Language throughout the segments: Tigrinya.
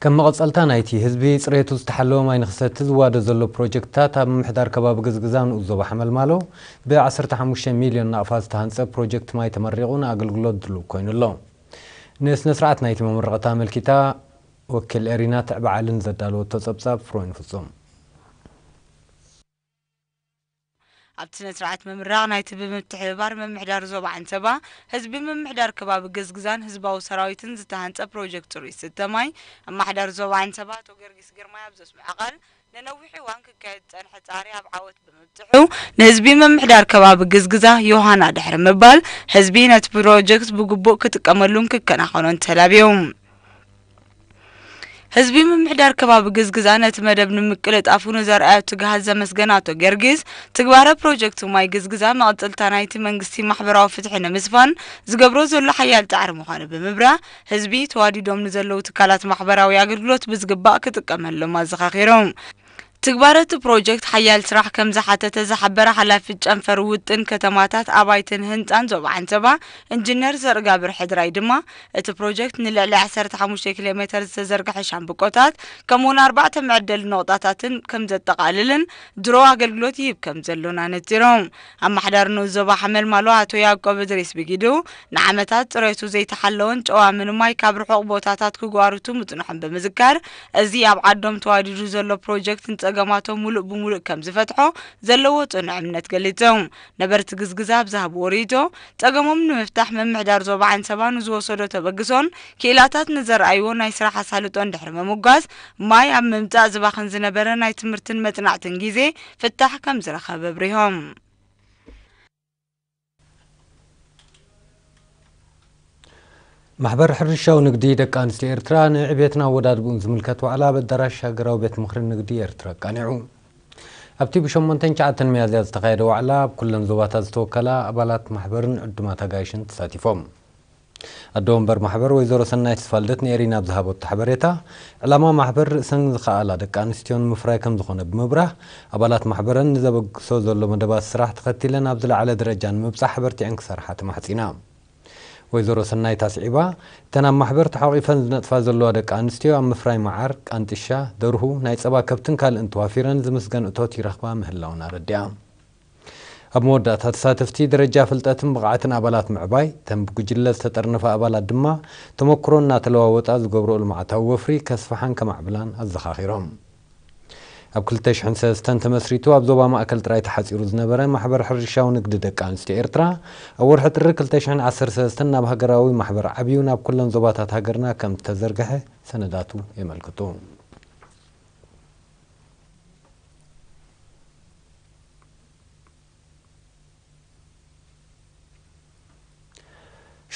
ከም መቐጸልታ ናይቲ ህዝቢ ጽሬቱ ዝተሓለወ ማይ ንክሰቲ ዝዋደ ዘሎ ፕሮጀክትታት ኣብ ምምሕዳር ከባቢ ግዝግዛ ንኡስ ዞባ ሓመልማሎ ብ ዓሰርተ ሓሙሽተ ሚልዮን ናቕፋ ዝተሃንጸ ፕሮጀክት ማይ ተመሪቑ ንኣገልግሎት ድሉው ኮይኑ ኣሎ። ንስነስርዓት ናይቲ መመረቕታ ኣመልኪታ ወኪል ኤሪና ትዕበ ዓሊ ንዘዳለወቶ ጸብጻብ ፍሮይን ፍጹም። ኣብቲ ስነ-ስርዓት ምምራቕ ናይቲ ብምትሕብባር ምምሕዳር ዞባ ዓንሰባ፣ ህዝቢ ምምሕዳር ከባቢ ገዝግዛን ህዝባዊ ሰራዊትን ዝተሃንጸ ፕሮጀክት ጽሩይ ዝስተ ማይ ኣማሕዳሪ ዞባ ዓንሰባ ኣቶ ገርጊስ ግርማይ ኣብ ዘስምዖ ቃል፣ ንነዊሕ እዋን ክካየድ ዝጸንሐ ጻዕሪ ኣብ ዓወት ብምብጽሑ ንህዝቢ ምምሕዳር ከባቢ ግዝግዛ ዮሃና ድሕሪ ምባል፣ ህዝቢ ነቲ ፕሮጀክት ብግቡእ ክጥቀመሉን ክከናኸኖን ተላብዩ። ህዝቢ ምምሕዳር ከባቢ ግዝግዛ ነቲ መደብ ንምቅልጣፉ ንዘርኣዮ ትግሃት ዘመስገነ ኣቶ ጊዮርጊስ፣ ትግባረ ፕሮጀክት ማይ ግዝግዛ መቐጸልታ ናይቲ መንግስቲ ማሕበራዊ ፍትሒ ንምስፋን ዝገብሮ ዘሎ ሓያል ጻዕሪ ምዃኑ ብምብራህ፣ ህዝቢ ተዋዲዶም ንዘለዉ ትካላት ማሕበራዊ ኣገልግሎት ብዝግባእ ክጥቀመሎም ኣዘኻኺሮም። ትግባረ እቲ ፕሮጀክት ሓያል ስራሕ ከምዝሓተተ ዝሓበረ ሓላፊት ጨንፈር ውጥን ከተማታት ኣባይትን ህንፃን ዞባ ዓንሰባ ኢንጂነር ዘርእጋብር ሕድራይ ድማ እቲ ፕሮጀክት ንልዕሊ ዓሰርተ ሓሙሽተ ኪሎ ሜተር ዝተዘርገሐ ሻምብቆታት ከምኡ ውን ኣርባዕተ መዐደሊ ነቑጣታትን ከምዘጠቓልልን ድሮ ኣገልግሎት ይህብ ከምዘሎን ኣነፂሮም። ኣማሓዳሪ ንኡስ ዞባ ሓመልማሎ ኣቶ ያእቆብ እድሪስ ብጊዱ፣ ንዓመታት ጽሬቱ ዘይተሓለወን ጨዋሚ ንማይ ካብ ርሑቕ ቦታታት ክጓርቱ ምጽንሖም ብምዝካር፣ እዚ ኣብ ዓዶም ተዋዲዱ ዘሎ ፕሮጀክት ንጸገማቶም ሙሉእ ብሙሉእ ከምዝፈትሖ ዘለዎ ጽኑዕ እምነት ገሊጹ። ነበርቲ ግዝግዛ ኣብ ዝሃብዎ ርኢቶ፣ ጸገሞም ንምፍታሕ ምምሕዳር ዞባ ዓንሰባ ንዝወሰዶ ተበግሶን ክኢላታት ንዘርኣይዎ ናይ ስራሕ ኣሳልጦን ድሕሪ ምምጓስ፣ ማይ ኣብ ምምጻእ ዝባኽን ዝነበረ ናይ ትምህርትን መጽናዕትን ጊዜ ፍታሕ ከም ዝረኸበ ኣብሪሆም። ማሕበር ሕርሻዊ ንግዲ ደቂ ኣንስትዮ ኤርትራ ንዕቤትን ኣወዳድብኡን ዝምልከት ዋዕላ ኣብ ኣዳራሽ ሃገራዊ ቤት ምኽሪ ንግዲ ኤርትራ ኣቃኒዑ። ኣብቲ ብሸሞንተን ትሽዓተን ሚያዝያ ዝተኻየደ ዋዕላ ኣብ ኩለን ዞባታት ዝተወከላ ኣባላት ማሕበርን ዕዱማት ኣጋይሽን ተሳቲፎም። ኣደ ወንበር ማሕበር ወይዘሮ ሰናይት ተስፋልደት ንኤሪና ኣብ ዝሃበቶ ሓበሬታ፣ ዕላማ ማሕበር ርእሰን ዝኸኣላ ደቂ ኣንስትዮ ንምፍራይ ከምዝኾነ ብምብራህ፣ ኣባላት ማሕበረን ንዘበግሶ ዘሎ መደባት ስራሕ ተኸቲለን ኣብ ዝለዓለ ደረጃ ንምብፃሕ ኣበርቲዐን ክሰርሓ ተማሕፂና። ወይዘሮ ሰናይት ኣስዒባ፣ እተን ኣብ ማሕበር ተሓቚፈን ዝነጥፋ ዘለዋ ደቂ ኣንስትዮ ኣብ ምፍራይ መዓር፣ ቃንጥሻ፣ ደርሁ፣ ናይ ፀባ ከብትን ካልእን ተዋፊረን ዝምስገን እቶት ይረኽባ ምህላወን ኣረዲኣ። ኣብ መወዳእታ፣ ተሳተፍቲ ደረጃ ፍልጠትን ብቕዓትን ኣባላት ምዕባይ፣ እተን ብጉጅለ ዝተጠርነፋ ኣባላት ድማ ተመኩሮ እናተለዋወጣ ዝገብርኦ ልምዓታዊ ወፍሪ ከስፍሓን ከማዕብላን ኣዘኻኺሮም። ኣብ ክልተ ሽሕን ሰለስተን ተመስሪቱ ኣብ ዞባ ማእከል ጥራይ ተሓጺሩ ዝነበረ ማሕበር ሕርሻዊ ንግዲ ደቂ ኣንስትዮ ኤርትራ፣ ኣብ ወርሒ ጥሪ ክልተ ሽሕን ዓሰርተ ሰለስተን ናብ ሃገራዊ ማሕበር ዓብዩ ናብ ኩለን ዞባታት ሃገርና ከም ዝተዘርግሐ ሰነዳቱ የመልክቱ።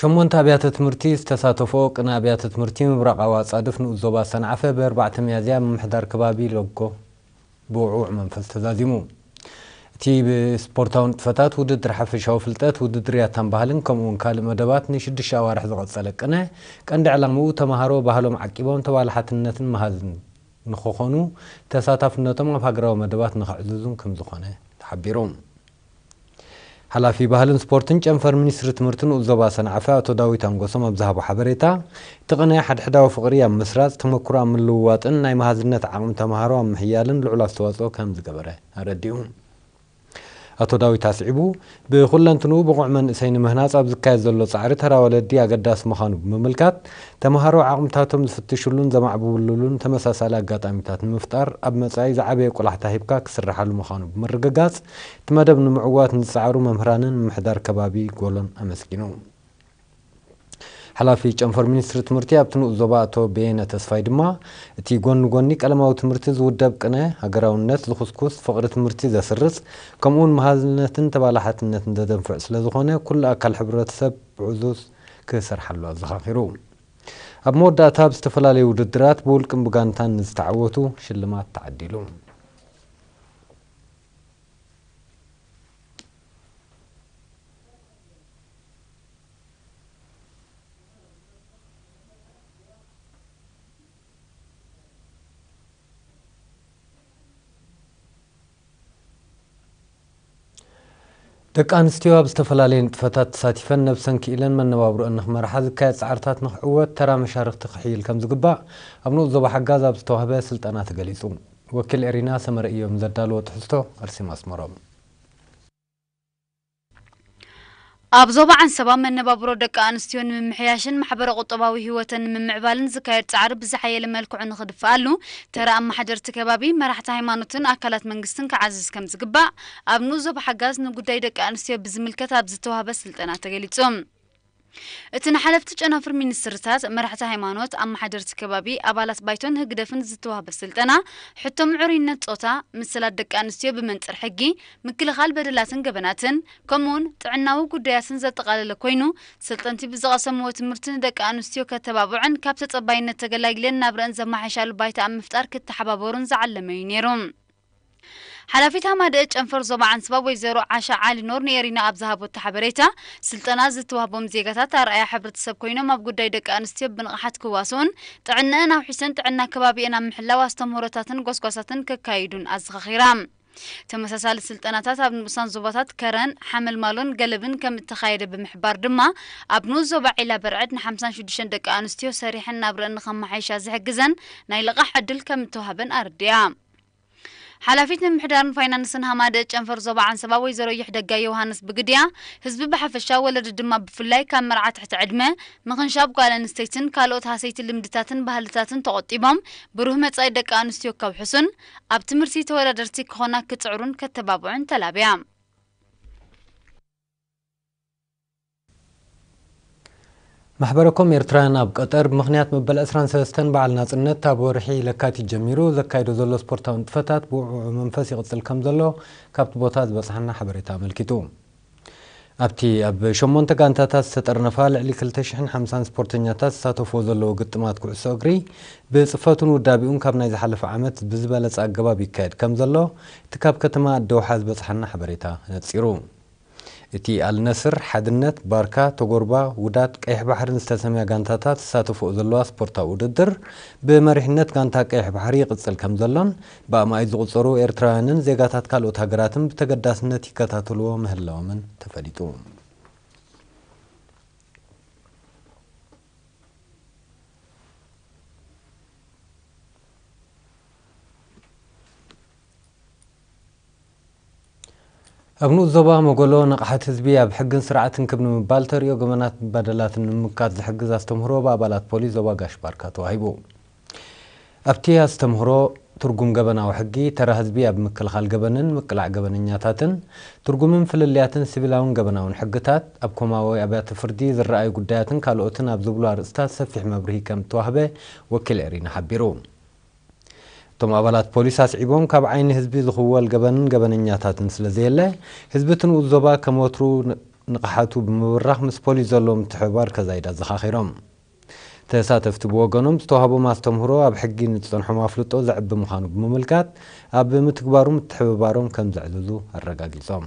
ሸሞንተ ኣብያተ ትምህርቲ ዝተሳተፍኦ ቅነ ኣብያተ ትምህርቲ ምብራቓዊ ኣፃድፍ ንኡስ ዞባ ሰንዓፈ ብ ኣርባዕተ ሚያዝያ ብ ምምሕዳር ከባቢ ሎጎ ብ ውዕዉዕ መንፈስ ተዛዚሙ። እቲ ብ ስፖርታዊ ንጥፈታት፣ ውድድር ሓፈሻዊ ፍልጠት፣ ውድድር ያታን ባህልን ከምኡ እውን ካልእ መደባት ን ሽዱሽተ ኣዋርሕ ዝቐፀለ ቅነ ቀንዲ ዕላምኡ ተምሃሮ ባህሎም ዓቂቦም ተባላሓትነትን መሃዝን ንክኾኑ ተሳታፍነቶም ኣብ ሃገራዊ መደባት ንከዕዝዙን ከምዝኾነ ተሓቢሩ። ሓላፊ ባህልን ስፖርትን ጨንፈር ሚኒስትሪ ትምህርቲ ንኡስ ዞባ ሰንዓፈ ኣቶ ዳዊት ኣንጎሶም ኣብ ዝሃቦ ሓበሬታ፣ እቲ ቅነ ሓድሕዳዊ ፍቕሪ ኣብ ምስራፅ፣ ተመክሮ ኣብ ምልውዋጥን ናይ መሃዝነት ዓቕሚ ተምሃሮ ኣብ ምሕያልን ልዑል ኣስተዋፅኦ ከምዝገበረ ኣረዲኡ። ኣቶ ዳዊት ኣስዒቡ፣ ብኹለንትንኡ ብቑዕ መንእሰይ ንምህናጽ ኣብ ዝካየድ ዘሎ ጻዕሪ ተራ ወለዲ ኣገዳሲ ምዃኑ ብምምልካት፣ ተመሃሮ ዓቕምታቶም ዝፍትሽሉን ዘማዕብብሉሉን ተመሳሳሊ ኣጋጣሚታት ንምፍጣር ኣብ መጻኢ ዝዓበየ ቆላሕታ ሂብካ ክስርሓሉ ምዃኑ ብምርግጋጽ፣ እቲ መደብ ንምዕዋት ንዝጸዓሩ መምህራንን ምምሕዳር ከባቢ ጎሎን ኣመስጊኑ። ሓላፊ ጨንፈር ሚኒስትሪ ትምህርቲ ኣብቲ ንኡስ ዞባ ኣቶ በየነ ተስፋይ ድማ፣ እቲ ጎኒ ጎኒ ቀለማዊ ትምህርቲ ዝውደብ ቅነ፣ ሃገራውነት ዝኹስኩስ፣ ፍቕሪ ትምህርቲ ዘስርጽ፣ ከምኡ'ውን መሃዝነትን ተባላሓትነትን ዘደንፍዕ ስለዝኾነ ኩሉ ኣካል ሕብረተሰብ ብዕዙዝ ክሰርሓሉ ኣዘኻኺሩ። ኣብ መወዳእታ ኣብ ዝተፈላለዩ ውድድራት ብውልቅን ብጋንታን ንዝተዓወቱ ሽልማት ተዓዲሉ። ደቂ ኣንስትዮ ኣብ ዝተፈላለየ ንጥፈታት ተሳቲፈን ነብሰን ክኢለን መነባብሮኣን ንክመርሓ ዝካየድ ፃዕርታት ንክዕወት ተራ መሻርኽቲ ክሕይል ከምዝግባእ ኣብ ንኡስ ዞባ ሓጋዝ ኣብ ዝተዋህበ ስልጠና ተገሊፁ። ወኪል ኤሪና ሰመረ ኢዮም ንዘዳለዎ ትሕዝቶ ኣርሴማ ኣስመሮም። ኣብ ዞባ ዓንሰባ መነባብሮ ደቂ ኣንስትዮ ንምምሕያሽን ማሕበረ ቁጠባዊ ህይወተን ንምምዕባልን ዝካየድ ፃዕሪ ብዝሓየለ መልክዑ ንኽድፈኣሉ ተራ ኣመሓደርቲ ከባቢ፣ መራሕቲ ሃይማኖትን ኣካላት መንግስትን ክዓዝዝ ከምዝግባእ ኣብ ንኡስ ዞባ ሓጋዝ ንጉዳይ ደቂ ኣንስትዮ ብዝምልከት ኣብ ዝተውሃበ ስልጠና ተገሊፁ። እቲ ንሓለፍቲ ጨናፍር ሚኒስትርታት፣ መራሕቲ ሃይማኖት፣ ኣመሓደርቲ ከባቢ፣ ኣባላት ባይቶን ህግደፍን ዝተዋህበ ስልጠና፣ ሕቶ ምዕሩይነት ጾታ፣ ምስላት ደቂ ኣንስትዮ ብመንጽር ሕጊ፣ ምክልኻል በደላትን ገበናትን፣ ከምኡ'ውን ጥዕናዊ ጉዳያትን ዘጠቓለለ ኮይኑ፣ ሰልጠንቲ ብዝቐሰምዎ ትምህርቲ ንደቂ ኣንስትዮ ከተባብዑን ካብ ተጸባይነት ተገላጊለን ናብርኣን ዘመሓይሻሉ ባይታ ኣብ ምፍጣር ክተሓባበሩን ዝዓለመ'ዩ ነይሩ። ሓላፊት ሃማደኤ ጨንፈር ዞባ ዓንስባ ወይዘሮ ዓሻ ዓሊ ኖር ንኤሪና ኣብ ዝሃበቶ ሓበሬታ፣ ስልጠና ዝተዋህቦም ዜጋታት ኣርኣያ ሕብረተሰብ ኮይኖም ኣብ ጉዳይ ደቂ ኣንስትዮ ብንቕሓት ክዋስኡን ጥዕነኣን ኣውሒሰን ጥዕና ከባቢኤን ኣብ ምሕላው ኣስተምህሮታትን ጎስጓሳትን ከካይዱን ኣዘኻኺራ። ተመሳሳሊ ስልጠናታት ኣብ ንኡሳን ዞባታት ከረን፣ ሓመልማሎን ገለብን ከምእተኻየደ ብምሕባር ድማ፣ ኣብ ንኡስ ዞባ ዒላ በርዕድ ንሓምሳን ሽዱሽተን ደቂ ኣንስትዮ ሰሪሐን ናብረኣን ንኸመሓይሻ ዝሕግዘን ናይ ልቓሕ ዕድል ከምእተዋህበን ኣረዲኣ። ሓላፊት ምምሕዳርን ፋይናንስን ሃማደኤ ጨንፈር ዞባ ዓንሰባ ወይዘሮ ይሕደጋ ዮውሃንስ ብግዲኣ፣ ህዝቢ ብሓፈሻ ወለዲ ድማ ብፍላይ ካብ መርዓ ትሕቲ ዕድመ፣ ምኽንሻብ ጓል ኣንስተይትን ካልኦት ሃሰይቲ ልምድታትን ባህልታትን ተቖጢቦም ብሩህ መጻኢ ደቂ ኣንስትዮ ከውሕሱን ኣብ ትምህርቲ ተወዳደርቲ ክኾና ክጽዕሩን ከተባብዑን ተላብያ። ማሕበረ ኮም ኤርትራውያን ኣብ ቀጠር ብምኽንያት መበል ዕስራን ሰለስተን በዓል ናጽነት ካብ ወርሒ ለካቲት ጀሚሩ ዘካይዶ ዘሎ ስፖርታዊ ንጥፈታት ብውዕዉዕ መንፈስ ይቕጽል ከም ዘሎ ካብቲ ቦታ ዝበጽሓና ሓበሬታ ኣመልኪቱ። ኣብቲ ኣብ ሸሞንተ ጋንታታት ዝተጠርነፋ ልዕሊ ክልተ ሽሕን ሓምሳን ስፖርተኛታት ዝሳተፍዎ ዘለዎ ግጥማት ኩዕሶ እግሪ ብጽፈቱን ውዳቤኡን ካብ ናይ ዝሓለፈ ዓመት ብዝበለጸ ኣገባብ ይካየድ ከም ዘሎ እቲ ካብ ከተማ ኣደውሓ ዝበጽሓና ሓበሬታ ነጺሩ። እቲ ኣልነስር፣ ሓድነት፣ ባርካ፣ ቶጎርባ፣ ውዳት ቀይሕ ባሕርን ዝተሰምያ ጋንታታት ዝሳተፍኦ ዘለዋ ስፖርታዊ ውድድር ብመሪሕነት ጋንታ ቀይሕ ባሕሪ ይቕጽል ከምዘሎን ብኣማኢት ዝቑጸሩ ኤርትራውያንን ዜጋታት ካልኦት ሃገራትን ብተገዳስነት ይከታተልዎ ምህላዎምን ተፈሊጡ። ኣብ ንኡስ ዞባ መጎሎ ንቕሓት ህዝቢ ኣብ ሕግን ስርዓትን ክብ ንምባል ተርእዮ ገበናትን በደላትን ንምምካት ዝሕግዝ ኣስተምህሮ ብኣባላት ፖሊስ ዞባ ጋሽ ባርካ ተዋሂቡ። ኣብቲ ኣስተምህሮ ትርጉም ገበናዊ ሕጊ፣ ተራ ህዝቢ ኣብ ምክልኻል ገበንን ምቅላዕ ገበነኛታትን፣ ትርጉምን ፍልልያትን ሲቪላውን ገበናውን ሕግታት፣ ኣብ ኮማዊ ኣብያተ ፍርዲ ዝረኣዩ ጉዳያትን ካልኦትን ኣብ ዝብሉ ኣርእስታት ሰፊሕ መብርሂ ከምእተዋህበ ወኪል ኤሪና ሓቢሩ። እቶም ኣባላት ፖሊስ ኣስዒቦም ካብ ዓይኒ ህዝቢ ዝኽወል ገበንን ገበነኛታትን ስለዘየለ ህዝቢ እቲ ንኡስ ዞባ ከም ወትሩ ንቕሓቱ ብምብራኽ ምስ ፖሊስ ዘለዎ ምትሕብባር ከዛይድ ኣዘኻኺሮም። ተሳተፍቲ ብወገኖም ዝተውሃቦም ኣስተምህሮ ኣብ ሕጊ ንዝፀንሖም ኣፍልጦ ዘዕቢ ምዃኑ ብምምልካት ኣብ ምትግባሩ ምትሕብባሮም ከም ዘዕዝዙ ኣረጋጊፆም።